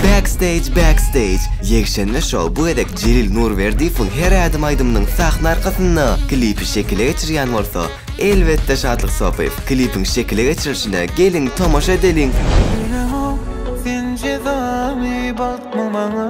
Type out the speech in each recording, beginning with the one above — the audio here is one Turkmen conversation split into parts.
Backstage Backstage Ýekşenbe Show bu gezek Jelil Nurberdiýewiň Her ädim aýdymynyň sahna arkasynda klipi şekile geçirýän bolsa, elbetde Şatlyk Sopyýew. Klipiň şekile geçirilişine geliň tomaşa edeliň! Ýüregim sen cezamy bagtmy maňa.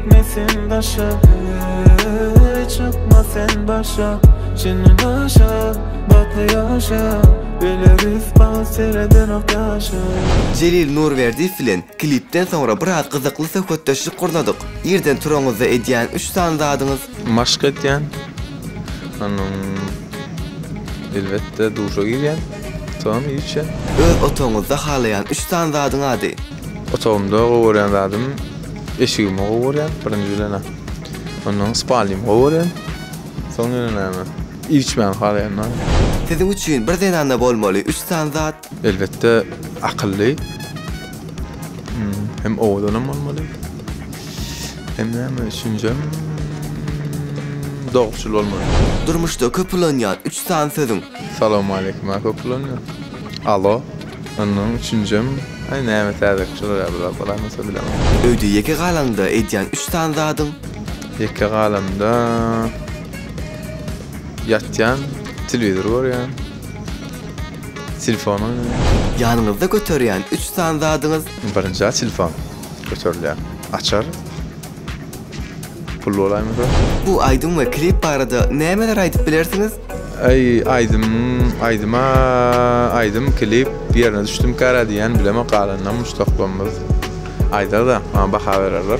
Gitmesin daşa Ey çykma sen başa Çyny başa Batly ýaşa Bile rüs bal seredenok ýaşa. Jelil Nurberdiýew bilen klipden soňra biraz gyzykly söhbetdeşlik gurnadyk. Irden turanyzda edýän üç sany zadyňyz? Maşk edýän. Onuň elbetde duşa girýän. Soňam iýip içýän. Öz otagyňyzda halaýan üç sany zadyň ady? Otagymda gowy görýän zadym eşigimi gowy görýän birinji bilen. Ondan spalnymy gowy görýän. Soň ýene näme? Iýip içmäni halaýan. Siziň üçin bir zenanda bolmaly üç sany zat? Elbetde akylly. Hem owadanam bolmaly. Hem näme üçünjem dogruçyl bolmaly. Durmuşda köp ulanýan üç sany sözüň? Salowmaleýkim aka uklanyň. Alo. Ondan üçünjem aý näme täzelik çygar ýa bir zat garaýmasa bilemok. Öýde ýeke galaňda edýän üç sany zadyň? Ýeke galamda ýatýan, telewizor görýän, telefon oýnaýan. Ýanyňyzda göterýän üç sany zadyňyz? Birinjä telefon göterilýär. Açar. Pul bolaýmasa. Bu aýdym we klip barada nämeler aýdyp bilersiňiz? Aý aýdym aýdyma aýdym klip ýerine düşdüm kara diýýän bilemok galanynam muşdaklarymyz aýdarda maňa baha bererler.